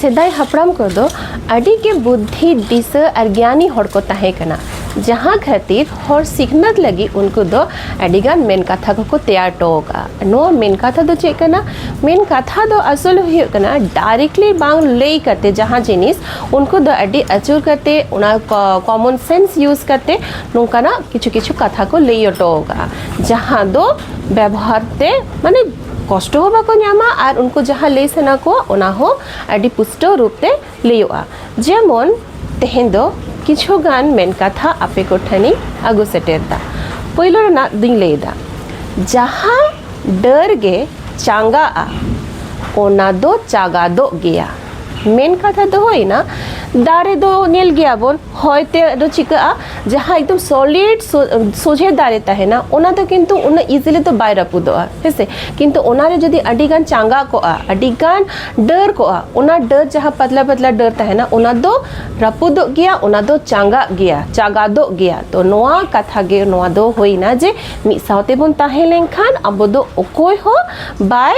ᱥᱮᱫᱟᱭ ᱦᱟᱯᱲᱟᱢ ᱠᱚᱫᱚ ᱟᱹᱰᱤ ᱜᱮ ᱵᱩᱫᱽᱫᱷᱤ ᱫᱤᱥᱟᱹ ᱟᱨ ᱜᱮᱭᱟᱱᱤ ᱦᱚᱲ ᱠᱚ ᱛᱟᱦᱮᱸ ᱠᱟᱱᱟ ᱡᱟᱦᱟᱸ ᱠᱷᱟᱹᱛᱤᱨ ᱦᱚᱲ ᱥᱤᱠᱷᱱᱟᱹᱛ ᱞᱟᱹᱜᱤᱫ ᱩᱱᱠᱩ ᱫᱚ ᱟᱹᱰᱤᱜᱟᱱ ᱢᱮᱱ ᱠᱟᱛᱷᱟ ᱠᱚᱠᱚ ᱛᱮᱭᱟᱨ ᱦᱚᱴᱚ ᱟᱠᱟᱫᱼᱟ ᱱᱚᱣᱟ ᱢᱮᱱ ᱠᱟᱛᱷᱟ ᱫᱚ ᱪᱮᱫ ᱠᱟᱱᱟ ᱢᱮᱱ ᱠᱟᱛᱷᱟ ᱫᱚ ᱟᱥᱚᱞ ᱦᱩᱭᱩᱜ ᱠᱟᱱᱟ ᱰᱟᱭᱨᱮᱠᱴᱞᱤ ᱵᱟᱝ ᱞᱟᱹᱭ ᱠᱟᱛᱮ ᱡᱟᱦᱟᱸ ᱡᱤᱱᱤᱥ ᱩᱱᱠᱩ ᱫᱚ ᱟᱹᱰᱤ ᱟᱹᱪᱩᱨ ᱠᱟᱛᱮ ᱚᱱᱟ ᱠᱚᱢᱚᱱ ᱥᱮᱱᱥ ᱤᱭᱩᱡᱽ ᱠᱟᱛᱮ ᱱᱚᱝᱠᱟᱱᱟᱜ ᱠᱤᱪᱷᱩ ᱠᱤᱪᱷᱩ ᱠᱟᱛᱷᱟ ᱠᱚ ᱞᱟᱹᱭ ᱦᱚᱴᱚ ᱟᱠᱟᱫᱼᱟ ᱡᱟᱦᱟᱸ ᱫᱚ ᱵᱮᱵᱚᱦᱟᱨ ᱛᱮ ᱢᱟᱱᱮ ᱠᱚᱥᱴᱚ ᱦᱚᱸ ᱵᱟᱠᱚ ᱧᱟᱢᱟ ᱟᱨ ᱩᱱᱠᱩ ᱡᱟᱦᱟᱸ ᱞᱟᱹᱭ ᱥᱟᱱᱟ ᱠᱚᱣᱟ ᱚᱱᱟ ᱦᱚᱸ ᱟᱹᱰᱤ ᱯᱩᱥᱴᱟᱹᱣ ᱨᱩᱯ ᱛᱮ ᱞᱟᱹᱭᱚᱜᱼᱟ ᱡᱮᱢᱚᱱ ᱛᱮᱦᱮᱧ ᱫᱚ ᱠᱤᱪᱷᱩ ᱜᱟᱱ ᱢᱮᱱ ᱠᱟᱛᱷᱟ ᱟᱯᱮ ᱠᱚ ᱴᱷᱮᱱᱤᱧ ᱟᱹᱜᱩ ᱥᱮᱴᱮᱨ ᱮᱫᱟ ᱯᱳᱭᱞᱳ ᱨᱮᱱᱟᱜ ᱫᱩᱧ ᱞᱟᱹᱭᱫᱟ ᱡᱟᱦᱟᱸ ᱰᱟᱹᱨ ᱜᱮ ᱪᱟᱸᱜᱟᱜᱼᱟ ᱚᱱᱟ ᱫᱚ ᱪᱟᱜᱟᱫᱚᱜ ᱜᱮᱭᱟ ᱢᱮᱱ ᱠᱟᱛᱷᱟ ᱫᱚ ᱦᱩᱭᱱᱟ ᱫᱟᱨᱮ ᱫᱚ ᱧᱮᱞ ᱜᱮᱭᱟᱵᱚᱱ ᱦᱚᱭᱛᱮ ᱫᱚ ᱪᱤᱠᱟᱹᱜᱼᱟ ᱡᱟᱦᱟᱸ ᱮᱠᱫᱚᱢ ᱥᱚᱞᱤᱰ ᱥᱚᱡᱷᱮ ᱫᱟᱨᱮ ᱛᱟᱦᱮᱱᱟ ᱚᱱᱟ ᱫᱚ ᱠᱤᱱᱛᱩ ᱩᱱᱟᱹᱜ ᱤᱡᱤᱞᱤ ᱫᱚ ᱵᱟᱭ ᱨᱟᱹᱯᱩᱫᱚᱜᱼᱟ ᱦᱮᱸᱥᱮ ᱠᱤᱱᱛᱩ ᱚᱱᱟᱨᱮ ᱡᱩᱫᱤ ᱟᱹᱰᱤᱜᱟᱱ ᱪᱟᱸᱜᱟ ᱠᱚᱜᱼᱟ ᱟᱹᱰᱤᱜᱟᱱ ᱰᱟᱹᱨ ᱠᱚᱜᱼᱟ ᱚᱱᱟ ᱰᱟᱹᱨ ᱡᱟᱦᱟᱸ ᱯᱟᱛᱞᱟ ᱯᱟᱛᱞᱟ ᱰᱟᱹᱨ ᱛᱟᱦᱮᱱᱟ ᱚᱱᱟ ᱫᱚ ᱨᱟᱹᱯᱩᱫᱚᱜ ᱜᱮᱭᱟ ᱚᱱᱟ ᱫᱚ ᱪᱟᱸᱜᱟᱜ ᱜᱮᱭᱟ ᱪᱟᱸᱜᱟᱫᱚᱜ ᱜᱮᱭᱟ ᱛᱚ ᱱᱚᱣᱟ ᱠᱟᱛᱷᱟ ᱜᱮ ᱱᱚᱣᱟ ᱫᱚ ᱦᱩᱭᱱᱟ ᱡᱮ ᱢᱤᱫ ᱥᱟᱶᱛᱮ ᱵᱚᱱ ᱛᱟᱦᱮᱸ ᱞᱮᱱᱠᱷᱟᱱ ᱟᱵᱚ ᱫᱚ ᱚᱠᱚᱭ ᱦᱚᱸ ᱵᱟᱭ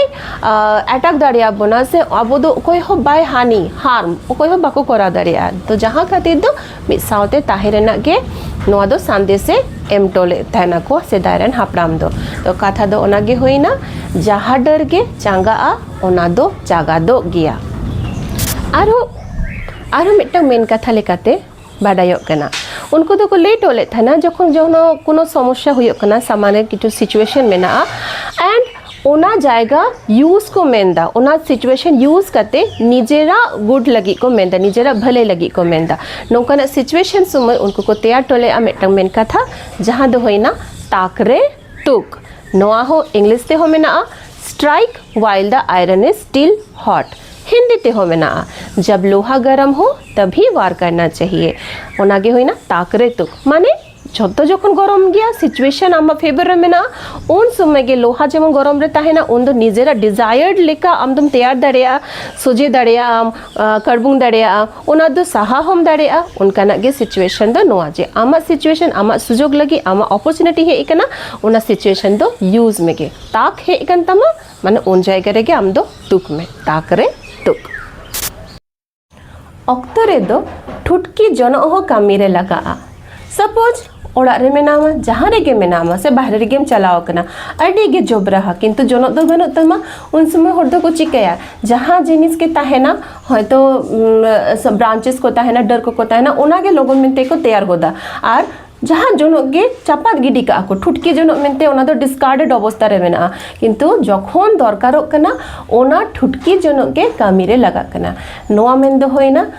ᱮᱴᱟᱠ ᱫᱟᱲᱮᱭᱟ ᱵᱚᱱᱟ ᱥᱮ ᱟᱵᱚ ᱫᱚ ᱚᱠᱚᱭ ᱦᱚᱸ ᱵᱟᱭ ᱦᱟᱹᱱᱤ ᱦᱟᱨᱢ ᱚᱠᱚᱭ ᱦᱚᱸ ᱵᱟᱠᱚ ᱠᱚᱨᱟᱣ ᱫᱟᱲᱮᱭᱟᱜᱼᱟ ᱛᱚ ᱡᱟᱦᱟᱸ ᱠᱷᱟᱹᱛᱤᱨ ᱫᱚ ᱢᱤᱫ ᱥᱟᱶᱛᱮ ᱛᱟᱦᱮᱸ ᱨᱮᱱᱟᱜ ᱜᱮ ᱱᱚᱣᱟ ᱫᱚ ᱥᱟᱸᱫᱮᱥᱮ ᱮᱢ ᱦᱚᱴᱚ ᱞᱮᱫ ᱛᱟᱦᱮᱱᱟ ᱠᱚ ᱥᱮᱫᱟᱭ ᱨᱮᱱ ᱦᱟᱯᱲᱟᱢ ᱫᱚ ᱛᱚ ᱠᱟᱛᱷᱟ ᱫᱚ ᱚᱱᱟ ᱜᱮ ᱦᱩᱭᱱᱟ ᱡᱟᱦᱟᱸ ᱰᱟᱹᱨ ᱜᱮ ᱪᱟᱸᱜᱟᱜᱼᱟ ᱚᱱᱟ ᱫᱚ ᱪᱟᱜᱟᱫᱚᱜ ᱜᱮᱭᱟ ᱟᱨᱦᱚᱸ ᱟᱨᱦᱚᱸ ᱢᱤᱫᱴᱟᱝ ᱢᱮᱱ ᱠᱟᱛᱷᱟ ᱞᱮᱠᱟᱛᱮ ᱵᱟᱰᱟᱭᱚᱜ ᱠᱟᱱᱟ ᱩᱱᱠᱩ ᱫᱚᱠᱚ ᱞᱟᱹᱭ ᱴᱚ ᱞᱮᱫ ᱛᱟᱦᱮᱱᱟ ᱡᱚᱠᱷᱚᱱ ᱡᱚᱱᱚ ᱠᱳᱱᱳ ᱥᱚᱢᱚᱥᱥᱟ ᱦᱩᱭᱩᱜ ᱠᱟᱱᱟ ᱥᱟᱢᱟᱱᱮ ᱠᱤᱪᱷᱩ ᱥᱤᱪᱩᱭᱮᱥᱚᱱ ᱢᱮᱱᱟᱜᱼᱟ ᱮᱱᱰ ᱚᱱᱟ ᱡᱟᱭᱜᱟ ᱤᱭᱩᱡᱽ ᱠᱚ ᱢᱮᱱᱫᱟ ᱚᱱᱟ ᱥᱤᱪᱩᱭᱮᱥᱚᱱ ᱤᱭᱩᱡᱽ ᱠᱟᱛᱮ ᱱᱤᱡᱮᱨᱟᱜ ᱜᱩᱰ ᱞᱟᱹᱜᱤᱫ ᱠᱚ ᱢᱮᱱᱫᱟ ᱱᱤᱡᱮᱨᱟᱜ ᱵᱷᱟᱹᱞᱟᱹᱭ ᱞᱟᱹᱜᱤᱫ ᱠᱚ ᱢᱮᱱᱫᱟ ᱱᱚᱝᱠᱟᱱᱟᱜ ᱥᱤᱪᱩᱭᱮᱥᱚᱱ ᱥᱚᱢᱚᱭ ᱩᱱᱠᱩ ᱠᱚ ᱛᱮᱭᱟᱨ ᱴᱚ ᱞᱮᱫᱼᱟ ᱢᱤᱫᱴᱟᱝ ᱢᱮᱱ ᱠᱟᱛᱷᱟ ᱡᱟᱦᱟᱸ ᱫᱚ ᱦᱩᱭᱱᱟ ᱛᱟᱠ ᱨᱮ ᱴᱩᱠ ᱱᱚᱣᱟ ᱦᱚᱸ ᱤᱝᱞᱤᱥ ᱛᱮᱦᱚᱸ ᱢᱮᱱᱟᱜᱼᱟ strike while the iron is still hot Hindi ᱛᱮᱦᱚᱸ ᱢᱮᱱᱟᱜᱼᱟ ᱡᱟᱵ ᱞᱳᱦᱟ ᱜᱚᱨᱚᱢ ᱦᱚ ᱛᱟᱵᱷᱤ ᱣᱟᱨ ᱠᱟᱨᱱᱟ ᱪᱟᱦᱤᱭᱮ ᱚᱱᱟᱜᱮ ᱦᱩᱭᱱᱟ ᱛᱟᱠ ᱨᱮ ᱛᱩᱠ ᱢᱟᱱᱮ ᱡᱷᱚᱛᱚ ᱡᱚᱠᱷᱚᱱ ᱜᱚᱨᱚᱢ ᱜᱮᱭᱟ ᱥᱤᱪᱩᱭᱮᱥᱚᱱ ᱟᱢᱟᱜ ᱯᱷᱮᱵᱚᱨ ᱨᱮ ᱢᱮᱱᱟᱜᱼᱟ ᱩᱱ ᱥᱚᱢᱚᱭ ᱜᱮ ᱞᱳᱦᱟ ᱡᱮᱢᱚᱱ ᱜᱚᱨᱚᱢ ᱨᱮ ᱛᱟᱦᱮᱱᱟ ᱩᱱ ᱫᱚ ᱱᱤᱡᱮᱨᱟᱜ ᱰᱤᱡᱟᱭᱟᱨᱰ ᱞᱮᱠᱟ ᱟᱢ ᱫᱚᱢ ᱛᱮᱭᱟᱨ ᱫᱟᱲᱮᱭᱟᱜᱼᱟ ᱥᱚᱡᱷᱮ ᱫᱟᱲᱮᱭᱟᱜᱼᱟᱢ ᱠᱟᱨᱵᱩᱝ ᱫᱟᱲᱮᱭᱟᱜᱼᱟ ᱚᱱᱟ ᱫᱚ ᱥᱟᱦᱟ ᱦᱚᱢ ᱫᱟᱲᱮᱭᱟᱜᱼᱟ ᱚᱱᱠᱟᱱᱟᱜ ᱜᱮ ᱥᱤᱪᱩᱭᱮᱥᱚᱱ ᱫᱚ ᱱᱚᱣᱟ ᱡᱮ ᱟᱢᱟᱜ ᱥᱤᱪᱩᱭᱮᱥᱚᱱ ᱟᱢᱟᱜ ᱥᱩᱡᱳᱜᱽ ᱞᱟᱹᱜᱤᱫ ᱟᱢᱟᱜ ᱚᱯᱚᱨᱪᱩᱱᱤᱴᱤ ᱦᱮᱡ ᱟᱠᱟᱱᱟ ᱚᱱᱟ ᱥᱤᱪᱩᱭᱮᱥᱚᱱ ᱫᱚ ᱤᱭᱩᱡᱽ ᱢᱮᱜᱮ ᱛᱟᱠ ᱦᱮᱡ ᱟᱠᱟᱱ ᱛᱟᱢᱟ ᱢᱟᱱᱮ ᱩᱱ ᱡᱟᱭᱜᱟ ᱨᱮᱜᱮ ᱟᱢ ᱫᱚ ᱛᱩᱠ ᱢᱮ ᱛᱟᱠ ᱨᱮ ᱛᱩᱠ ᱚᱠᱛᱚ ᱨᱮᱫᱚ ᱴᱷᱩᱴᱠᱤ ᱡᱚᱱᱚᱜ ᱦᱚᱸ ᱠᱟᱹᱢᱤ ᱨᱮ ᱞᱟᱜᱟᱜᱼᱟ सपोज ᱚᱲᱟᱜ ᱨᱮ ᱢᱮᱱᱟᱢᱟ ᱡᱟᱦᱟᱸ ᱨᱮᱜᱮ ᱢᱮᱱᱟᱢᱟ ᱥᱮ ᱵᱟᱦᱨᱮ ᱨᱮᱜᱮᱢ ᱪᱟᱞᱟᱣ ᱟᱠᱟᱱᱟ ᱟᱹᱰᱤ ᱜᱮ ᱡᱚᱵᱽᱨᱟᱦᱟ ᱠᱤᱱᱛᱩ ᱡᱚᱱᱚᱜ ᱫᱚ ᱵᱟᱹᱱᱩᱜ ᱛᱟᱢᱟ ᱩᱱ ᱥᱚᱢᱚᱭ ᱦᱚᱲ ᱫᱚᱠᱚ ᱪᱤᱠᱟᱹᱭᱟ ᱡᱟᱦᱟᱸ ᱡᱤᱱᱤᱥ ᱜᱮ ᱛᱟᱦᱮᱱᱟ ᱦᱚᱭᱛᱳ ᱵᱨᱟᱱᱪᱮᱥ ᱠᱚ ᱛᱟᱦᱮᱱᱟ ᱰᱟᱹᱨ ᱠᱚᱠᱚ ᱛᱟᱦᱮᱱᱟ ᱚᱱᱟᱜᱮ ᱞᱚᱜᱚᱱ ᱢᱮᱱᱛᱮ ᱠᱚ ᱛᱮᱭᱟᱨ ᱜᱚᱫᱟ ᱟᱨ ᱡᱟᱦᱟᱸ ᱡᱚᱱᱚᱜ ᱜᱮ ᱪᱟᱯᱟᱫ ᱜᱤᱰᱤ ᱠᱟᱜᱼᱟ ᱠᱚ ᱴᱷᱩᱴᱠᱤ ᱡᱚᱱᱚᱜ ᱢᱮᱱᱛᱮ ᱚᱱᱟ ᱫᱚ ᱰᱤᱥᱠᱟᱨᱰᱮᱰ ᱚᱵᱚᱥᱛᱟ ᱨᱮ ᱢᱮᱱᱟᱜᱼᱟ ᱠᱤᱱᱛᱩ ᱡᱚᱠᱷᱚᱱ ᱫᱚᱨᱠᱟᱨᱚᱜ ᱠᱟᱱᱟ ᱚᱱᱟ ᱴᱷᱩᱴᱠᱤ ᱡᱚᱱᱚᱜ ᱜᱮ ᱠᱟᱹᱢᱤᱨᱮ ᱞᱟᱜᱟᱜ ᱠᱟᱱᱟ ᱱᱚᱣᱟ ᱢᱮᱱᱫᱚ ᱦᱩᱭᱱᱟ